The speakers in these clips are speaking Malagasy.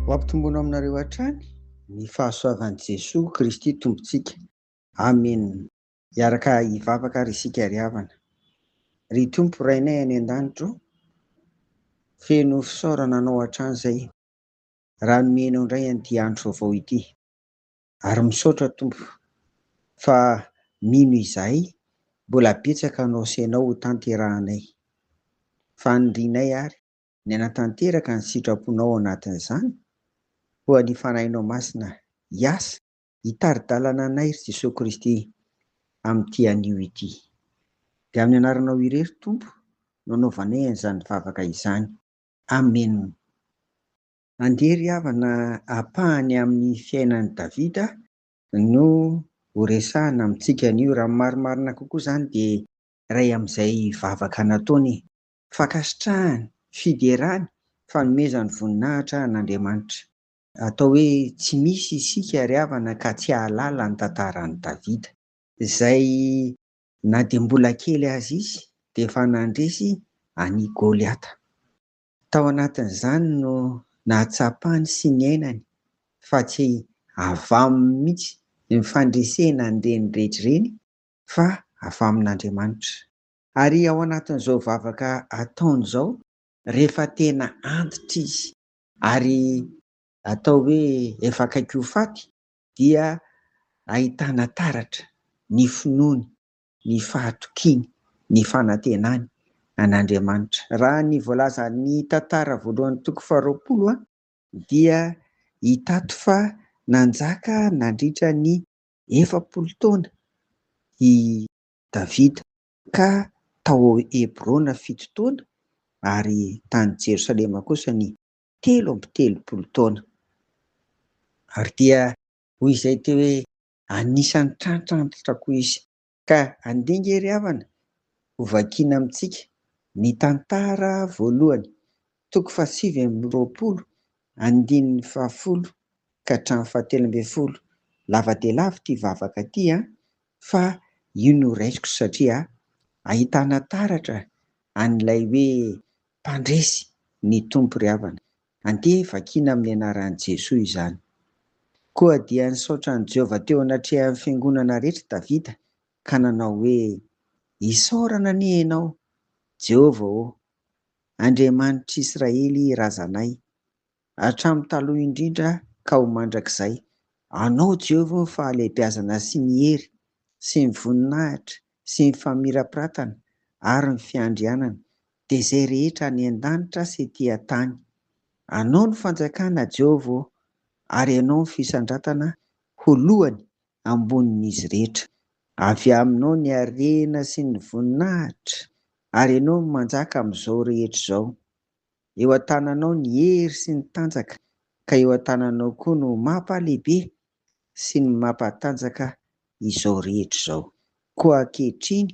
Ho ampitomboina aminareo hatrany ny fahasoavan'i Jesoa Kristy Tompontsika. Amena. Hiaraka hivavaka ary isika ry havana. Ry Tompo Rainay any an-danitra ô, feno fisaorana Anao hatrany izay, raha nomena Anao indray an'ity andro vaovao ity. Ary misaotra Tompo fa mino izahay mbola betsaka ny osenao ho tanterahanay. Fanirianay ary ny hanatanteraka ny sitraponao ao anatin'izany, koa ny Fanahinao Masina hiasa hitari-dalana anay ry Jesoa Kristy amin'ity anio ity. Dia amin'ny anaranao irery Tompo no anaovanay an'izany vavaka izany. Amena. Andeha ry havana ampahany amin'ny fiainan'i Davida no horesahina amintsika anio. Raha ny marimarina kokoa izany dia iray amin'izay vavaka nataony. Fankasitrahany, fiderany, fanomezany voninahitra an'Andriamanitra. Atao hoe tsy misy isika ry havana ka tsy hahalala ny tantaran'i Davida. Izay na dia mbola kely aza izy dia efa nandresy an'i Goliata. Tao anatin'izany no nahatsapany sy niainany fa tsy avy aminy mihitsy ireny fandresena an'ireny rehetra ireny fa avy amin'Andriamanitra. Ary ao anatin'izao vavaka ataony izao rehefa tena antitra izy ary atao hoe efa akaiky ho faty dia ahitana taratra ny finoany ny fahatokiany, ny fanantenany an'Andriamanitra. Raha ny voalazan'ny tantara voalohan'ny toko faharoapolo dia hitato fa nanjaka nandritra ny efapolo taona i Davida, ka tao Hebrona fito taona ary tany Jerosalema kosa ny telo amby telopolo taona. Ary dia hoy izay teo hoe, Anisan'ny tratra antitra koa izy. Ka andianga ery havana, ho vakiana amintsika ny tantara voalohany, toko fahasivy amby roapolo, andininy fahafolo ka hatramin'ny fahatelo ambin'ny folo. Lava dia lava ity vavaka ity an! fa io no raisiko satria ahitana taratra an'ilay hoe mpandresy ny Tompo ry havana. Andeha vakiana amin'ny anaran'i Jesoa izany. Koa dia nisaotra an'i Jehovah teo anatrehan'ny fiangonana rehetra Davida ka nanao hoe, Isaorana anie ianao, Jehovah ô, Andriamanitr'Israely razanay, hatramin'ny taloha indrindra ka ho mandrakizay. Anao, Jehovah ô, fahalehibiazana sy ny hery, sy ny voninahitra, sy ny famirapiratana ary ny fiandrianana dia izay rehetra any an-danitra sy ety an-tany. Anao no fanjakana, Jehovah ô, ary ianao no fisandratana ho lohany ambonin'izy rehetra. Avy aminao ny harena sy ny voninahitra, ary ianao no manjaka amin'izao rehetra izao. Eo an-tananao ny hery sy ny tanjaka, ka eo an-tananao koa no mampalehibe sy ny mampatanjaka izao rehetra izao. Koa ankehitriny,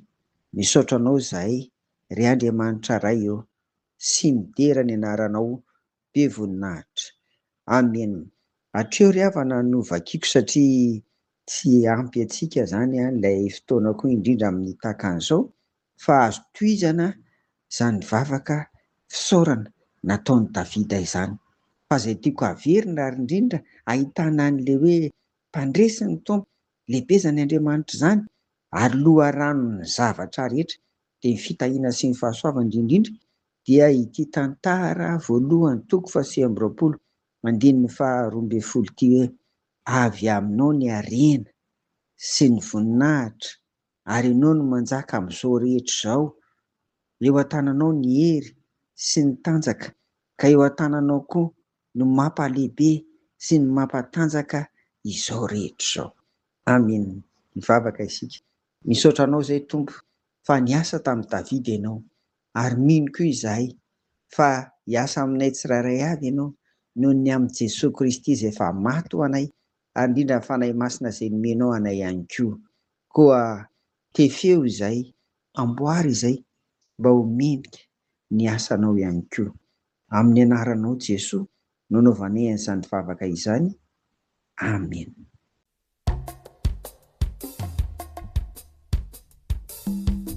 misaotra Anao izahay, ry Andriamanitra Ray ô, sy midera ny Anaranao be voninahitra. Amen. Hatreo ry havana no vakiko satria tsy ampy antsika izany ilay fotoana koa indrindra amin'ny takan'izao, fa azo tohizana izany vavaka fisaorana nataon'i Davida izany. Fa izay tiako haverina ary indrindra ahitana an'ilay hoe mpandresy ny Tompo, lehibezany Andriamanitra izany ary loharanon'ny zavatra rehetra, dia ny fitahiana sy ny fahasoavany indrindrindra dia ity tantara voalohany toko fahasivy amby roapolo andininy faha roa ambin'ny folo ity hoe, Avy aminao ny harena sy ny voninahitra ary Ianao no manjaka amin'izao rehetra izao, eo an-tananao ny hery sy ny tanjaka, ka eo an-tananao koa no mampalehibe sy ny mampatanjaka izao rehetra izao. Amen, mivavaka isika. Misaotra Anao izay Tompo fa niasa tamin'i Davida Ianao, ary mino koa izahay fa hiasa aminay tsirairay avy Ianao noho ny amin'i Jesoa Kristy izay efa maty ho anay, ary indrindra ny Fanahy Masina izay nomenao anay ihany koa. Koa tefeo izay, amboary izay mba ho mendrika ny asanao ihany koa. Amin'ny anaranao Jesoa no novanay an'izany vavaka izany. Amena.